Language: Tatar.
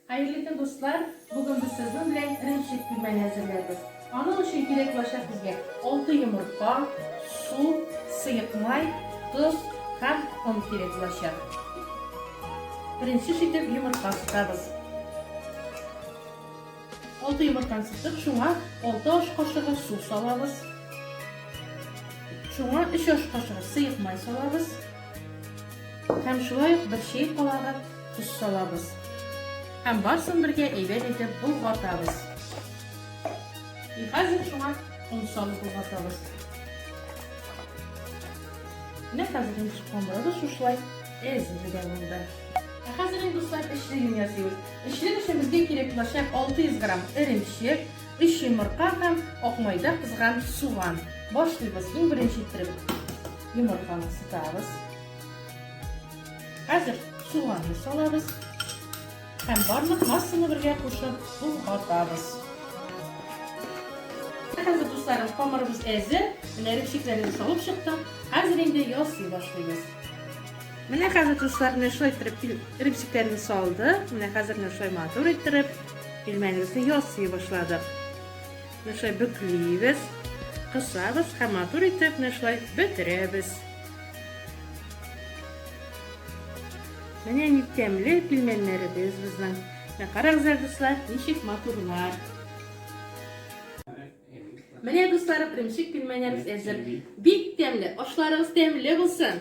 Хәерле көн дуслар, бүген без сезнең белән эремчек пилмәне әзерләрбез. Аның өчен кирәк булачак безгә алты йомырка, су, сыек май, тоз һәм он кирәк булачак. Беренче шитеп йомырка сытабыз. Алты йомырканы сыттык, шуңа алты аш кашыгы су салабыз. Шуңа өч аш кашыгы сыек май салабыз. Һәм шулай ук бер чәй калагы тоз салабыз. Һәм барсын бергә әйбәт итеп болгатабыз. И хәзер шуңа он салып болгатабыз. Менә хәзер инде шкомбрабыз шушлай әзерлегә булды. Ә хәзер инде дуслар эчлеген ясыйбыз. Эчлек өчен безгә кирәк булачак 600 грамм эремчек, 3 йомырка һәм акмайда кызган суган. Башлыйбыз иң беренче иттереп. Йомырканы сытабыз. Хәзер суганны салабыз. Һәм барлык массаны бергә кушып, сулгатабыз. Хәзер дусларым, камырыбыз әзер. Менә репчикләрне салып чыктык. Хәзер инде ясый башлыйбыз. Менә хәзер дуслар, менә шулай иттереп репчикләрне салдык. Менә хәзер менә шулай матур иттереп пельменебезне ясый башладык. Менә шулай бөклибез, кысабыз һәм матур итеп менә шулай бөтерәбез. Менә ни тәмле пилмәннәребез безнең. Менә карагыз, дуслар, ничек матурлар. Менә дуслар, беренче пилмәннәребез әзер. Бик тәмле, ашларыгыз тәмле булсын.